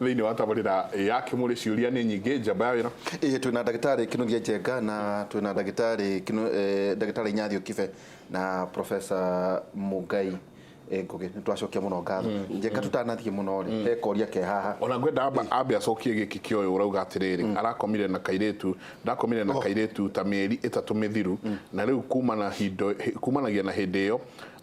thĩinĩ wa tabarĩra ya kĩmũrĩ ciũria nĩ nyingĩ njamba ya wĩra ĩĩ twĩ na ndagĩtarĩ kĩnuthia njenga na twĩ na ndagĩtarĩ Kinu- eh, ndagĩtarĩ inyathi ũkibe na profesa mũngai eh, ngũgĩ nĩ twacokia mũno ngatho njenga tũtanathiĩ mũno rĩ he koria ke haha ona ngwenda amba ambe acokie gĩkĩ kĩa ũyũ ũrauga atĩrĩrĩ arakomire na kairĩtu ndakomire na kairĩtu ta mĩeri ĩtatũ mĩthiru na rĩu kumana hindo- hi- kumanagia na hĩndĩ ĩyo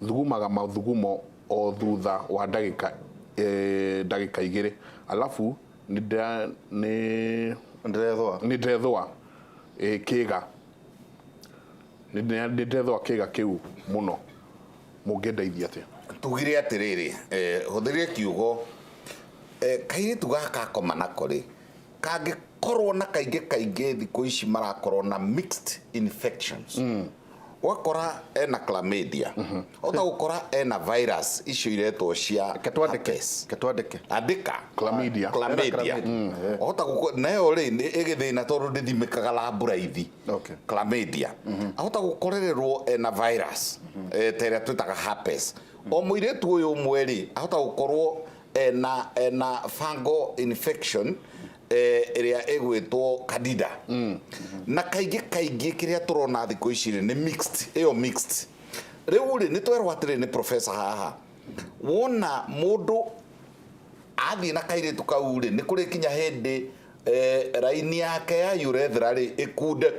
thugumaga mathugumo o thutha wa ndagĩka eh, ndagĩka igĩrĩ alafu nĩndĩra- nĩ- ndĩrethũa nĩndĩrethũa eh, kĩga Nĩndĩra- nĩndĩrethũa kĩga kĩu mũno mũngĩndeithia atĩa tugire atĩrĩrĩ eh, hũthĩrire kiugo eh, kairĩtu gaka akoma nako rĩ kangĩkorwo na kaingĩ kaingĩ thikũ ici marakorwo na mixed infections mm. ũgakora ena chlamydia mm-hmm. ota gũkora ena virus icio iretwo cia ketwandĩke andĩka chlamydia chlamydia mm, ota gũkora nayo rĩ ĩgĩthĩna tondũ ndĩthimĩkaga laboraithi chlamydia mm-hmm. ahota gũkorererwo ena virus mm-hmm. eh, ta ĩrĩa twĩtaga herpes o mũirĩtu ũyũ ũmwe rĩ ahota gũkorwo ena ena fungal infection eh, ĩrĩa ĩgwĩtwo candida na kaingĩ kaingĩ kĩrĩa tũrona thikũ ici rĩ nĩ mixed ĩyo mixed rĩu rĩ nĩ twerwo atĩrĩ nĩ professor haha wona mũndũ athiĩ na kairĩtu kau rĩ nĩ kũrĩ kinya hĩndĩ eh, raini yake ya urethra rĩ ĩkunde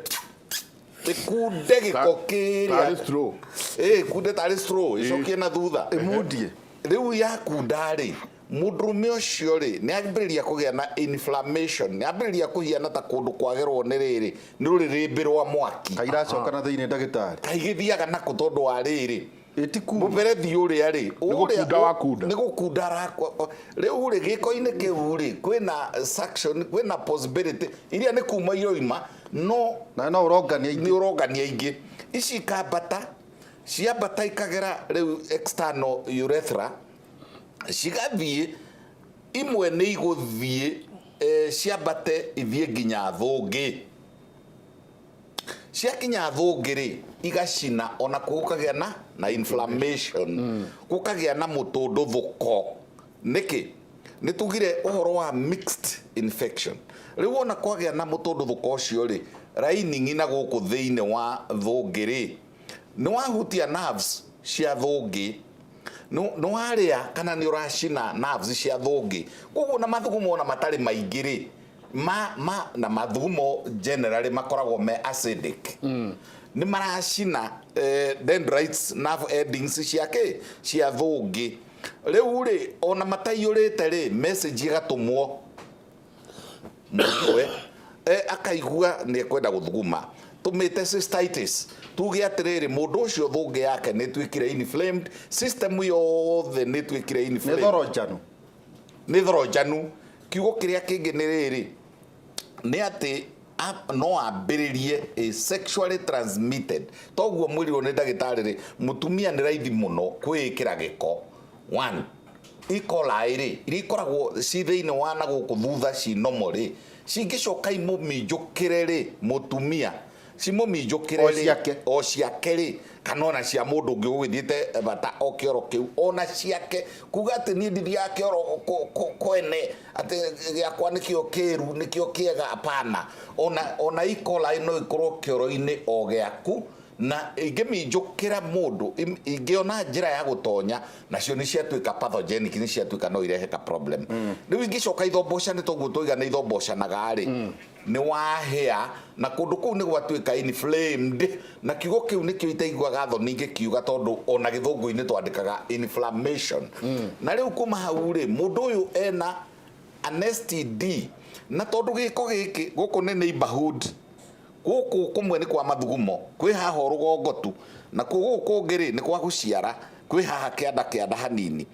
gĩkunde gĩko kĩrĩa Tarĩ straw. Eh, kunde tarĩ straw ĩcokie na thutha ĩmundie rĩu yakunda rĩ mũndũrũme ũcio rĩ nĩ ambĩrĩria kũgĩa na inflammation nĩ ambĩrĩria kũhiana ta kũndũ kwagerwo nĩ rĩrĩ nĩ rũrĩrĩmbĩ rwa mwaki kairacoka na thĩinĩ ndagĩtarĩ kaigĩthiaga nako tondũ wa rĩrĩ mũberethi ũrĩa rĩ gũkunda wakunda. nĩ gũkunda arakwa rĩu rĩ gĩko-inĩ kĩu rĩ kwĩna suction kwĩna possibility iria nĩ kuma iroima no na no ũrongania ingĩ nĩ ũrongania ingĩ ici ikambata ciambata ikagera rĩu external urethra cigathiĩ imwe nĩ igũthiĩ eh, ciambate ithiĩ nginya thũngĩ ciakinya thũngĩ rĩ igacina ona kuo gũkagĩa na na inflammation gũkagĩa na mũtũndũthũko nĩkĩ nĩ tugire ũhoro wa mixed infection rĩu ona kwagĩa na mũtũndũthũko ũcio rĩ lining na gũkũ thĩinĩ wa thũngĩ rĩ nĩ wahutia nerves cia thũngĩ nĩ nĩ warĩa kana nĩ ũracina nerves cia thũngĩ koguo na mathugumo ona matarĩ maingĩ rĩ ma ma na mathugumo generally makoragwo me acidic mm. nĩ maracina eh, dendrites na endings cia kĩ cia thũngĩ rĩu rĩ ona mataiyũrĩte rĩ message ĩgatũmwo mũigue eh, akaigua nĩ ekwenda gũthuguma tumite cystitis tuge atiriri mundu ucio thungi yake ni twikire inflamed system yothe ni twikire inflamed ni thoro njanu nĩ thoro njanu kiugo kĩrĩa kĩngĩ nĩ rĩrĩ nĩ atĩ a- no ambĩrĩrie ĩ sexually transmitted toguo mwĩrirwo nĩ ndagĩtarĩ rĩ mũtumia nĩ raithi mũno kwĩĩkĩra gĩko one ikolaĩ rĩ iria ikoragwo ci thĩinĩ wa na gũkũ thutha ci nomo rĩ cingĩcoka imũminjũkĩre rĩ mũtumia cimũminjũkĩre-rĩ, Ociake. o ciake-rĩ, kana o na cia mũndũ ũngĩ ũgũgĩthiĩte bata o kĩoro kĩu, o na ciake, kuuga atĩ niĩ ndithiaga kĩoro kũ- kũ- kwene, atĩ gĩakwa nĩkĩo kĩĩru, nĩkĩo kĩega, apana. O na- o na E-coli no ĩkorwo kĩoro-inĩ o gĩaku, na ingĩminjũkĩra mũndũ, im- ingĩona njĩra ya gũtonya, nacio nĩ ciatuĩka pathogenic, nĩ ciatuĩka no irehe ka problem. Rĩu ingĩcoka ithombocanĩte ũguo twauga nĩ ithomboocanaga-rĩ, Nĩ wahĩa, na kũndũ kũu nĩ gwatuĩka inflamed, na kiugo kĩu nĩkĩo itaiguaga thoni ngĩkiuga tondũ o na gĩthũngũ-inĩ twandĩkaga inflammation. Na rĩu kuma hau-rĩ, mũndũ ũyũ ena an STD, na tondũ gĩko gĩkĩ, gũkũ nĩ neighbourhood, gũkũ kũmwe nĩ kwa mathugumo, kwĩ haha o rũgongo tu, nakuo gũkũ kũngĩ-rĩ, nĩ kwa gũciara, kwĩ haha kĩanda kĩanda hanini.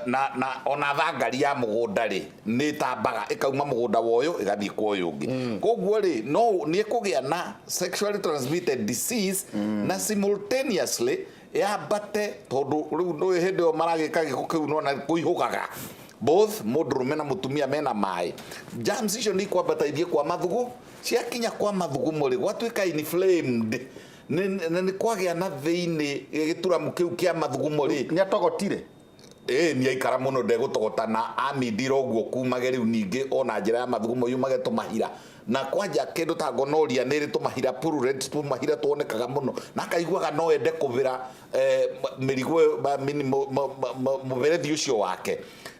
Na, na o na thangari ya mũgũnda-rĩ, nĩĩtambaga, ĩkauma mũgũnda wa ũyũ, ĩgathiĩ kwa ũyũ ũngĩ. Kwoguo-rĩ, no, nĩĩkũgĩa na sexually transmitted disease, na simultaneously yambate, tondũ rĩu ndũĩ hĩndĩ ĩyo maragĩka gĩko kĩu nĩwona kũihũgaga, both mũndũrũme na mũtumia me na maĩ, germs icio nĩikwambata ithiĩ kwa mathugu, ciakinya kwa mathugumo-rĩ, gwatuĩka inflamed. Nĩ- nĩ- nĩ kwagĩa na thĩinĩ gĩturamu kĩu kĩa mathugumo rĩ nĩ atogotire ĩĩ nĩ aikara mũno ndegũtogota na amindira ũguo kumage rĩu ningĩ ona njĩra ya mathugumo yumage tũmahira na kwanja kĩndũ ta gonoria nĩ ĩrĩ tũmahira purulent tũmahira tuonekaga mũno na akaiguaga no ende kũbĩra eh, m- mĩrigo ĩyo, ma- mini- mũ- mũ- mũ- mũ- mũberethi ũcio wake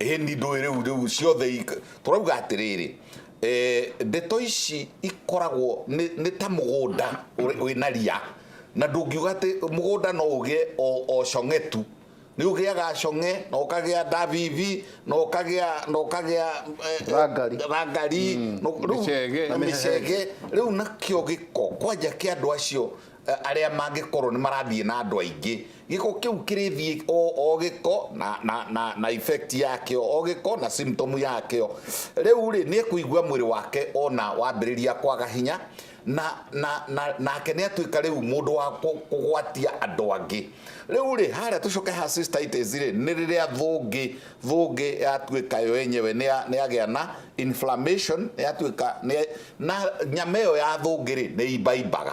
Ĩni ndũĩ rĩu rĩu ciothe ik- tũrauga atĩrĩrĩ eh, ndeto ici ikoragwo nĩ nĩ ta mũgũnda ũrĩ- wĩna ria na ndũngiuga atĩ mũgũnda no ũgĩe o o cong'e tu nĩ ũgĩaga cong'e na ũkagĩa ndabibi na ũkagĩa na ũkagĩa eh, Rangari. rangari no- rĩu- Mĩcege. na mĩcege rĩu nakĩo gĩko kwanja kĩa andũ acio arĩa mangĩkorwo nĩ marathiĩ na andũ aingĩ gĩko kĩu kĩrĩthiĩ o o gĩko na, na, na, na effect yakĩo o gĩko na symptom yakĩo rĩu rĩ nĩ kũigua mwĩrĩ wake ona wambĩrĩria kwaga hinya na na na nake nĩ atuĩka rĩu mũndũ wa kũ- kũgwatia andũ angĩ rĩu rĩ harĩa tũcoke ha cystitis rĩ nĩ rĩrĩa thũngĩ thũngĩ yatuĩka yo yenyewe nĩ ya- nĩ yagĩa na inflammation yatuĩka nĩ na nyama ĩyo ya thũngĩ rĩ nĩ imbaimbaga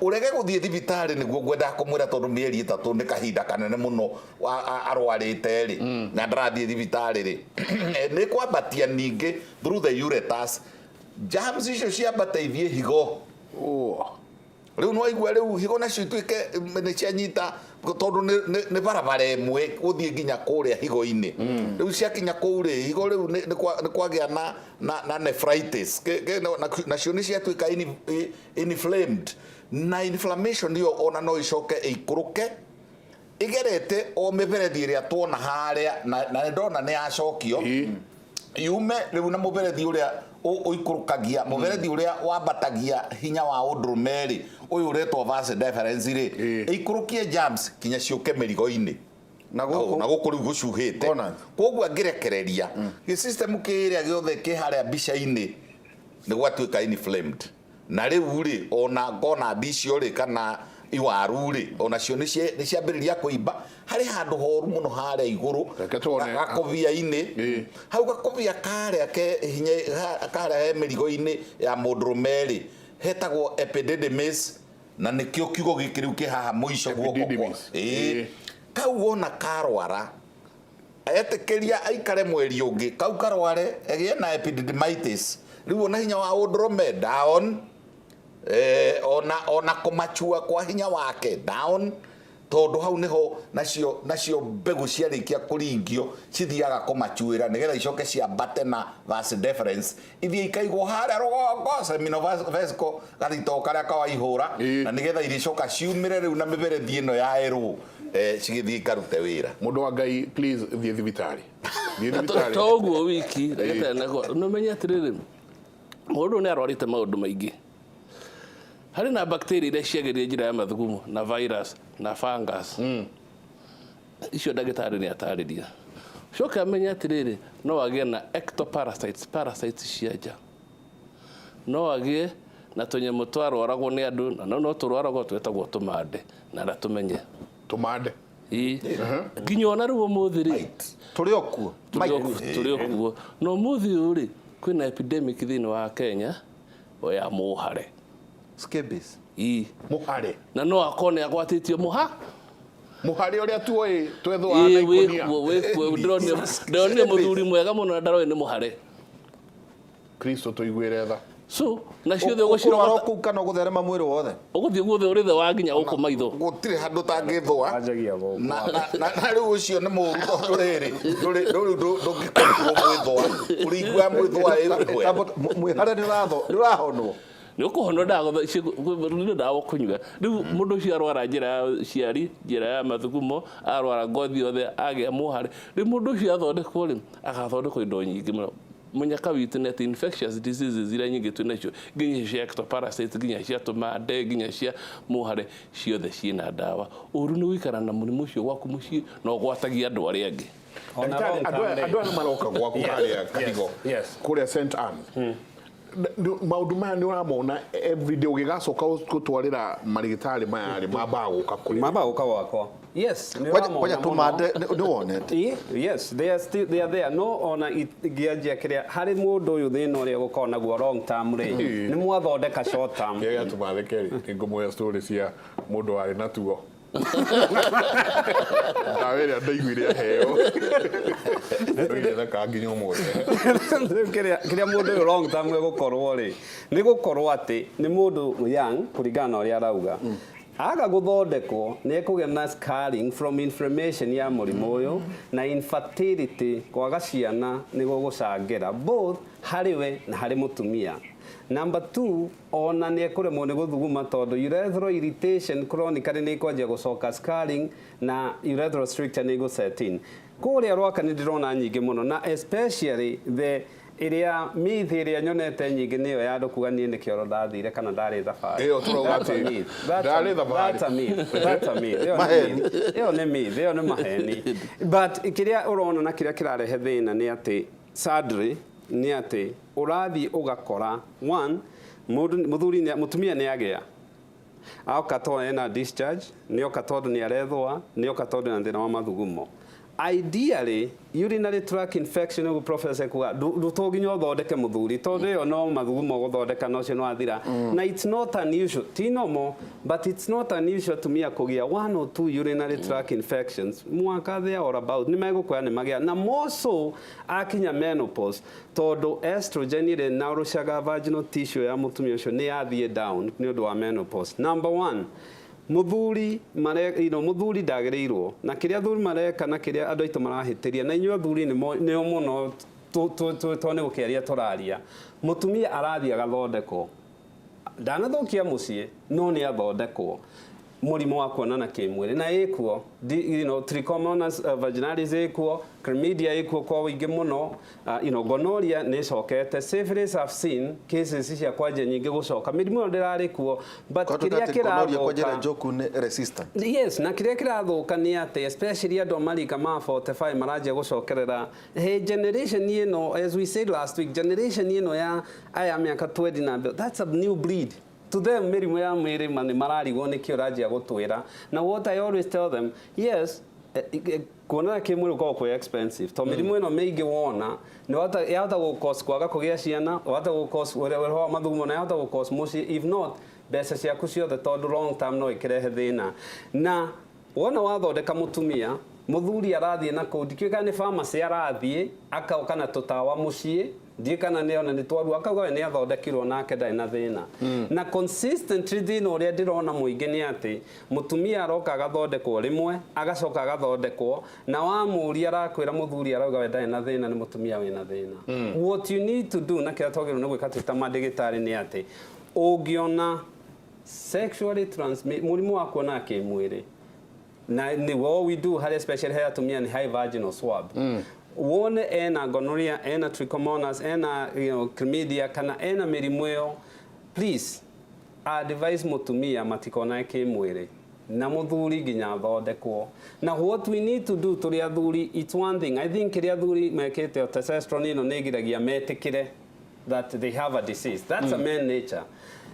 Ũrege gũthiĩ thibitarĩ nĩguo ngwendaga kũmwĩra tondũ mĩeri ĩtatũ nĩ kahinda kanene mũno arwarĩte rĩ mm. na ndarathiĩ thibitarĩ rĩ nĩ kwambatia ningĩ through the ureters germs icio ciambate ithiĩ higo rĩu nĩ waigua rĩu higo nacio ituĩke nĩ cianyita tondũ nĩ barabara ĩmwe gũthiĩ nginya kũrĩa higo-inĩ mm. rĩu ciakinya kũu rĩ higo rĩu nĩ kwagĩa na na nephritis nacio nĩ ciatuĩka inflamed na inflammation ĩyo ona no ĩcoke ĩikũrũke ĩgerete o mĩberethi ĩrĩa tuona harĩa na, na ndona nĩ yacokio yume rĩu na mũberethi ũrĩa ũikũrũkagia mũberethi ũrĩa wambatagia hinya wa ũndũrũme rĩ ũyũ ũretwo vas deferens rĩ ĩikũrũkie germs kinya ciũke mĩrigo-inĩ na gũkũ rĩu gũcuhĩte koguo angĩrekereria gĩ system kĩrĩa gĩothe kĩ harĩa mbica-inĩ nĩ gwatuĩka inflamed na rĩu rĩ ona ngona ndicio rĩ kana iwaru rĩ onacio nĩ ciambĩrĩria kũimba harĩ handũ horu mũno harĩa igũrũ gakobia-inĩ hau gakobia karĩa karĩa he mĩrigo-inĩ ya mũndũrũme rĩ hetagwo epididymis na nĩkĩo kiugo gĩkĩ rĩu kĩ haha mũico guoko kwa Epididymis. Ĩĩ. Ĩĩ. kau wona karwara etĩkĩria aikare mweri ũngĩ kau karware gĩe na epididymitis rĩu ona hinya wa ũndũrũme down eh, ona ona kũmachua kwa hinya wake down Tondũ hau nĩho nacio nacio mbegũ ciarĩkia kũringio cithiaga kũmacuĩra nĩgetha icoke ciambate na vas deferens ithiĩ ikaigwo harĩa rũgongo seminovesical gathitoo karĩa ka waihũra na nĩgetha irĩcoka ciumĩre rĩu na mĩberethi ĩno ya erũ eh, cigĩthiĩ ikarute wĩra Mũndũ wa Ngai, please thiĩ thibitarĩ. Thiĩ Na to- thibitarĩ. to ũguo wiki ndagĩtarĩ nako nĩmenye atĩrĩrĩ mũndũ nĩ arwarĩte maũndũ maingĩ harĩ na bacteria iria ciagĩrĩire njĩra ya mathugumo na virus na fungus mm. icio ndagĩtarĩ nĩ atarĩria coke amenye atĩrĩrĩ no agĩe na ectoparasites parasites cia nja no agĩe na tũnyamũ twarwaragwo nĩ andũ na no no tũrwaragwo twetagwo tũmande na na tũmenye tũmande Ii. nginya ona rĩu ũmũthĩ rĩ tũrĩ okuo tũrĩ okuo no ũmũthĩ ũyũ rĩ kwĩna epidemic thĩinĩ wa Kenya oya mũhare scabies ii muhare na no akone agwatĩtio mũha muhare uria tuoĩ twethwa na Ĩĩ, wĩ ikunia kuo, wĩ kuo. Ndĩronire- ndĩronire mũthuri mwega mũno na ndaroĩ nĩ mũhare kristo tuiguire tha so na ciothe ũgũcirogota kuu kana gutherema mwĩrĩ wothe ũgũthiĩ guothe ũrĩ the wa nginya gũkũ maitho gũtirĩ handũ tangĩthũa anjagia gũkũ na na- na- na rĩu ũcio nĩ mũru tondũ rĩrĩ ndũrĩ- ndũrĩ- ndũ- ndũngĩkorirwo mwĩthũa ũringua mwĩthũa ĩwe Tambo- mũ- mwĩhare nĩ ũratho nĩ ũrahonwo nĩ ũkũhonwo ndawa nĩ ndawa ũkũnyua rĩu mũndũ ũcio arwara njĩra ya ũciari njĩra ya mathugumo arwara ngothi yothe agĩa mũhare rĩu mũndũ ũcio athondekwo rĩ agathondekwo indo nyingĩ mũno Manya ka witũ nĩ atĩ infectious diseases iria nyingĩ twĩ nacio nginya cia ectoparasite nginya cia tũmande nginya cia mũhare ciothe ciĩna ndawa. Ũru nĩ gũikara na mũrimũ ũcio gwaku mũciĩ na ũgwatagie andũ arĩa angĩ. Ndagĩtarĩ, andũ aya andũ aya nĩ maroka gwaku harĩa Kadigo kũrĩa Saint Anne. Maũndũ maya nĩ ũramona everyday ũgĩgacoka gũtwarĩra marĩgĩtarĩ maya rĩ mambaga gũka kũrĩ we? Mambaga gũka gwakwa. Yes, nĩ Ngoja- ũramona ngoja mũno. tũmande nĩ nĩ wonete Ĩ, yes they are still they are there no ona ngĩanjia kĩrĩa harĩ mũndũ ũyũ thĩna ũrĩa gũkorwo naguo long term rĩ Ĩ. nĩ mwathondeka short term rĩrĩa tũmatheke rĩ nĩ ngũmũhe story cia mũndũ warĩ na tuo ndawa ĩrĩa ndaiguire aheo ndoiretheka nginya ũmũthĩ Rĩu kĩrĩa kĩrĩa mũndũ ũyũ long term egũkorwo rĩ nĩ gũkorwo atĩ nĩ mũndũ young kũringana na ũrĩa arauga Aga gũthondekwo, nĩekũgĩa na scarring from inflammation ya mũrimũ ũyũ, na infertility, kwaga ciana, nĩgũgũcangĩra, both harĩ we na harĩ mũtumia. Number two, o na nĩekũremwo nĩ gũthuguma tondũ urethral irritation chronically nĩĩkwanjia gũcoka scarring na urethral stricture nĩĩgũ set in. Kũrĩa rwaka nĩndĩrona nyingĩ mũno na especially the Ĩrĩa myth ĩrĩa nyonete nyingĩ nĩ ĩyo ya andũ kuga niĩ nĩ kĩoro ndathire kana ndarĩ thabarĩ. Ĩyo tũrauga That's a atĩ myth. That's a- ndarĩ thabarĩ. that's a myth. That's a myth. Ĩyo nĩ Maheni. myth. Ĩyo nĩ myth. Ĩyo nĩ maheni. But kĩrĩa ũrona na kĩrĩa kĩrarehe thĩna nĩ atĩ sadly nĩ atĩ ũrathiĩ ũgakora one mũndũ mũthuri nĩ- mũtumia nĩ agĩa Aoka to ena discharge, nĩoka tondũ nĩarethũa, nĩoka tondũ ena thĩna wa mathugumo. Ideally, urinary tract infection ũguo professor ekuga, to nginya ũthondeke mũthuri tondũ ĩyo no mathugumo ũgũthondeka na ũcio nĩ wathira. Mm. Na it's not unusual, ti normal, but it's not unusual atumia kũgĩa one or two urinary mm. tract infections mwaka there or about. Nĩ megũkũya nĩ magĩa na more so akinya menopause. Tondũ estrogen rĩ na ũrũcaga vaginal tissue ya mũtumia ũcio nĩ yathiĩ down nĩ ũndũ wa menopause. Number one, mũthuri mare, you know, mũthuri ndagĩrĩirwo na kĩrĩa athuri mareka na kĩrĩa andũ aitũ marahĩtĩria na inyuĩ athuri nĩo mũno to nĩ gũkĩaria tũraria. Mũtumia arathiĩ agathondekwo Ndanathũkia mũciĩ no nĩ athondekwo mũrimũ wa kuonana kĩmwĩrĩ na ĩkuo you know, trichomonas uh, vaginalis ĩkuo chlamydia ĩkuo kwa ũingĩ mũno uh, you know, gonorrhea nĩ ĩcokete syphilis have seen cases cia kwanja nyingĩ gũcoka mĩrimũ ĩyo ndĩrarĩ kuo but kĩrĩa kĩrathũka yes na kĩrĩa kĩrathũka nĩ atĩ especially andũ a marika ma 45 maranjia gũcokerera Hey, generation ĩno, as we said last week, generation ĩno ya aya mĩaka 20 na mbere, that's a new breed. To them, mĩrimũ ya mwĩrĩ ma- nĩ mararigwo nĩkĩ ũranjia gũtwĩra. Na what I always tell them, yes, eh, eh, kuonana kĩmwĩrĩ gũkoragwo kwĩ expensive. To mĩrimũ ĩno mĩingĩ wona, nĩwahota- yahota gũkos kwaga kũgĩa ciana, wahota gũkos ũhoro wa mathugumo, na yahota gũkos mũciĩ, if not, mbeca ciaku ciothe tondũ long term no ĩkĩrehe thĩna. Na Wona wathondeka mũtumia, mũthuri arathiĩ na kũu, ndikĩũĩ kana nĩ pharmacy arathiĩ, akaũka na tũtawa mũciĩ, ndiũĩ kana nĩ ona nĩ twaruo, akauga we nĩ athondekirwo nake ndarĩ na thĩna. Na consistently thĩna ũrĩa ndĩrona mũingĩ nĩ atĩ, mũtumia aroka agathondekwo rĩmwe, agacoka agathondekwo, na wamũria arakwĩra mũthuri arauga we ndarĩ na thĩna nĩ mũtumia wĩna thĩna. What you need to do na kĩrĩa twagĩrĩirwo nĩ gwĩka twĩ ta mandĩgĩtarĩ nĩ atĩ, ũngĩona sexually transmit mũrimũ wa kuona kĩmwĩrĩ na nĩ what we do harĩ especially harĩ atumia nĩ high vaginal swab wone ena gonorrhea ena trichomonas ena you know, chlamydia kana ena mĩrimũ ĩyo please advise mũtumia matikonane kĩmwĩrĩ na mũthuri nginya athondekwo na what we need to do tũrĩ athuri it's one thing i think kĩrĩa athuri mekĩte o testosterone ĩno nĩ ĩgiragia metĩkĩre that they have a disease that's a man nature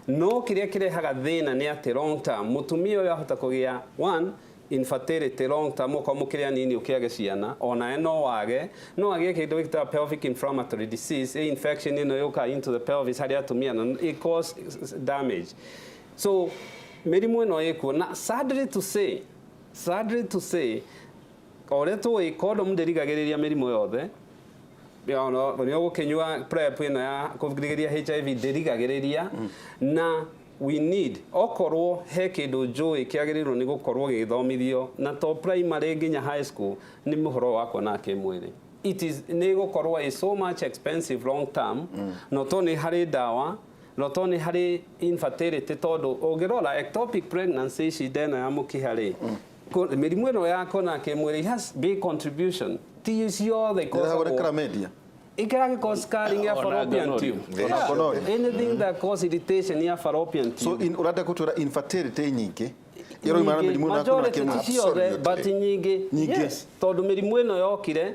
no kĩrĩa kĩrehaga thĩna nĩ atĩ long term mũtumia ũyũ ahota kũgĩa one infertility long term okorwo mũkĩrĩ anini ũkĩage ciana onawe no wage no agĩe kĩndũ gĩtaga pelvic inflammatory disease ĩ infection ĩno yũka into the pelvis harĩ atumia na it cause damage so mĩrimũ ĩno ĩkuo na sadly to say sadly to say O ũrĩa tũĩ condom ndĩrigagĩrĩria mĩrimũ yothe, ũrĩa ũgũkĩnyua prep ĩno ya kũrigĩrĩria HIV ndĩrigagĩrĩria na we need okorwo he kĩndũ njũĩ kĩagĩrĩirwo nĩ gũkorwo gĩgĩthomithio na to primary nginya high school nĩ mũhoro wa kuona kĩmwĩrĩ it is nĩ gũkorwo is so much expensive long term no to nĩ harĩ ndawa no to nĩ harĩ infertility tondũ ũngĩrora ectopic pregnancy shida ĩno ya mũkiha rĩ Mĩrimũ ĩno ya kona kĩmwĩrĩ has big contribution ti ciothe ikoragwo media it can cause scarring ya fallopian tube yeah. anything that cause irritation ya fallopian tube so in urata kutura infertility nyingi ĩroimana mĩrimũ na kuna kĩmwe but nyingĩ yes tondũ mĩrimũ ĩno yokire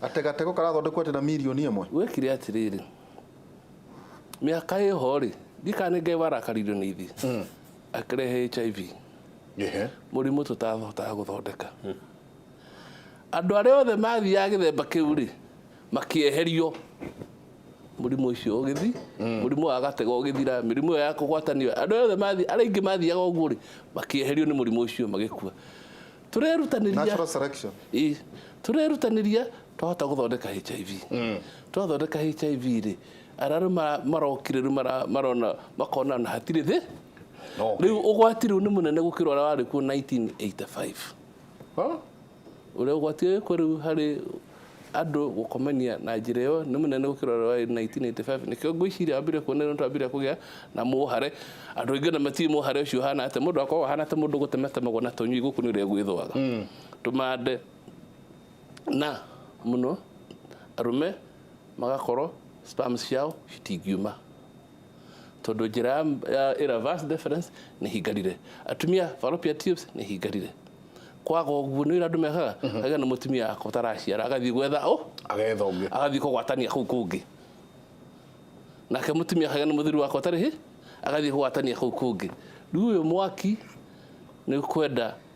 Ate gatego karathondekwo ate na mirioni ĩmwe? Gwekire atĩrĩrĩ, mĩaka ĩho-rĩ, ndiũĩ kana nĩ Ngai warakaririo nĩ ithuĩ, akĩrehe HIV, Ehe. mũrimũ tũtahotaga gũthondeka. Andũ arĩa othe mathiaga gĩthemba kĩu-rĩ, makĩeherio, mũrimũ ũcio ũgĩthiĩ, mũrimũ wa gatego ũgĩthira, mĩrimũ ĩyo ya kũgwatanio, andũ arĩa othe mathiĩ, arĩa aingĩ mathiaga ũguo-rĩ, makĩeherio nĩ mũrimũ ũcio magĩkua. turerutanĩria Natural selection. Ĩ, turerutanĩria twahota gũthondeka hiv twathondeka hiv rĩ arĩa rĩu mara- marokire rĩu mara- marona makona na hatirĩ thĩ No, rĩu ũgwati rĩu nĩ mũnene gũkĩra ũrĩa warĩ kuo 1985 Huh? ũrĩa ũgwati wĩkuo rĩu harĩ andũ gũkomania na njĩra ĩyo nĩ mũnene gũkĩra ũrĩa warĩ 1985 nĩkĩo ngwĩciria wambire kuona nĩ twambire kũgĩa na mũhare andũ aingĩ ona matiĩ mũhare ũcio ũhana atĩ mũndũ akoragwo ahana ta mũndũ gũtematemagwo na tũnyui gũkũ nĩ ũrĩa gwĩthũaga mm. tũmande na mũno arũme magakorwo spams ciao citingiuma tondũ njĩra ya, ya ĩra vas deferens nĩ hingarire atumia fallopian tubes nĩ hingarire kwaga ũguo nĩ wĩra andũ mekaga agĩa na mũtumia akwa ũtaraciara agathiĩ gwetha ũ agetha ũngĩ agathiĩ kũgwatania kũu kũngĩ nake mũtumia akagĩa na mũthuri wakwa ũtarĩ hĩ agathiĩ kũgwatania kũu kũngĩ rĩu ũyũ mwaki nĩ kwenda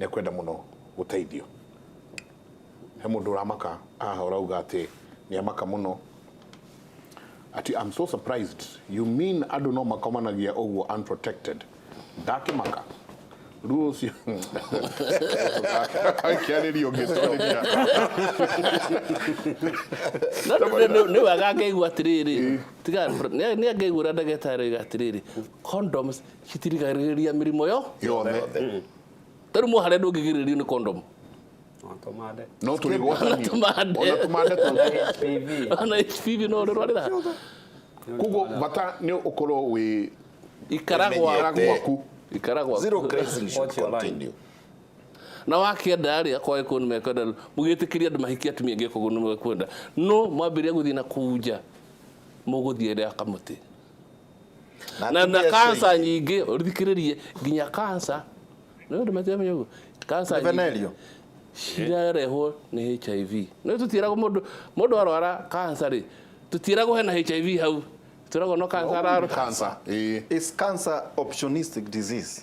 nĩ ekwenda mũno gũteithio. He mũndũ ũramaka haha ũrauga atĩ nĩ amaka mũno ati I'm so surprised you mean andũ no makomanagia ũguo unprotected ndakĩmaka ruo ũcio akĩarĩria ũngĩtwarĩria nä wega angeigua atä rä rä nä angeigua å rä a ndagätarä oiga atä rä rä condoms citirigagĩrĩria mĩrimũ yo yothe tarĩu mũhare ndũngĩgirĩrĩrio nĩ kondomu Tũmande. no tũrĩgwatanio Tũmande. ona tũmande tũngĩ HPV. ona HPV no ũrĩrwarĩra koguo bata nĩ ũkorwo wĩ ikara Ũmenyete. gwaku gwaku ikara gwaku Zero grazing should Watch your line. continue. na wakĩenda rĩ akorwo agĩkorwo nĩ mekwenda rĩ, mũgĩtĩkĩrie andũ mahikie atumia angĩ koguo nĩ mekwenda no mwambĩrĩria gũthiĩ na kũu nja mũgũthiĩ rĩa kamũtĩ na na atumia acio kansa aingĩ. nyingĩ ũthikĩrĩrie nginya kansa nĩ ũndũ matiramenya ũguo kansa Nĩ venereal? cirarehwo nĩ hiv nĩ tũtiĩragwo mũndũ mũndũ arwara kansa rĩ tũtiĩragwo hena hiv hau tũragwo no kansa ararwara Cancer, ĩĩ. Is cancer opportunistic disease?